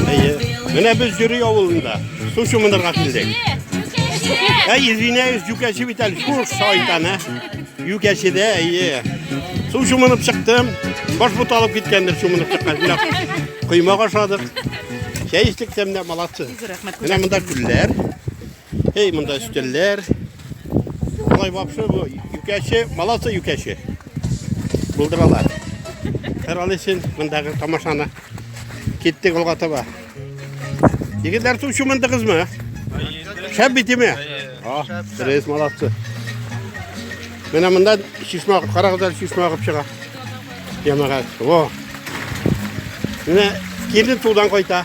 Әйе. Менә без Җөри авылында. Су чумынырга килдек. Ә извиняюсь, юкәче бит әле шуш шайтан, ә. Юкәчедә, әйе. Су чумынып чыктым. Баш бут алып киткәндер чумынып чыккан. Менә Коймак ашадык. Чәй эчтек тәмле, молодцы. Менә монда күлләр. Эй, монда өстәлләр. Алай бапшы бу юкәче, баласы юкәче. Булдыралар. Хәр алысын мондагы тамашаны. Киттек алга таба. Егетләр су чумындыгызмы? Шәп битеме? А, рейс молодцы. Менә монда чишмә, карагызлар чишмә агып чыга. Ямагат. Во. Менә килен судан кайта.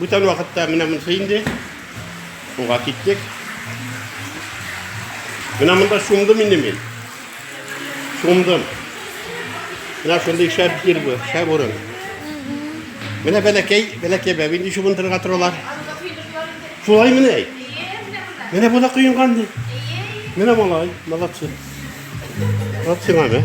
Бүтән вакытта менә монысы инде. Буга киттек. Менә монда шундым инде мин. Шундым. Менә шундый шәп җир бу, шәп урын. Менә бәләкәй, бәләкәй бәби инде шундырга торалар. Шулай менә. Менә бу да коенган ди. Менә малай, молодцы. Вот сиңа, да?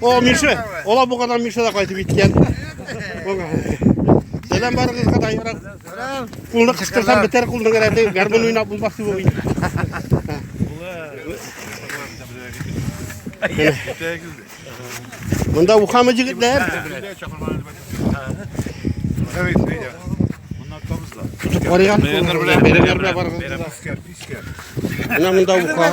О, Миша, ола бу кадам Миша да кайтып киткән. Сәлам барыгызга да ярак. Сәлам. Кулны кыстырсам бетәр кулны гәрәде. Гармон уйнап булмас дип уйлый. Монда ухамы җегетләр. Тутып карыйган. Бәйрәмнәр белән барыгызга. Менә монда уха.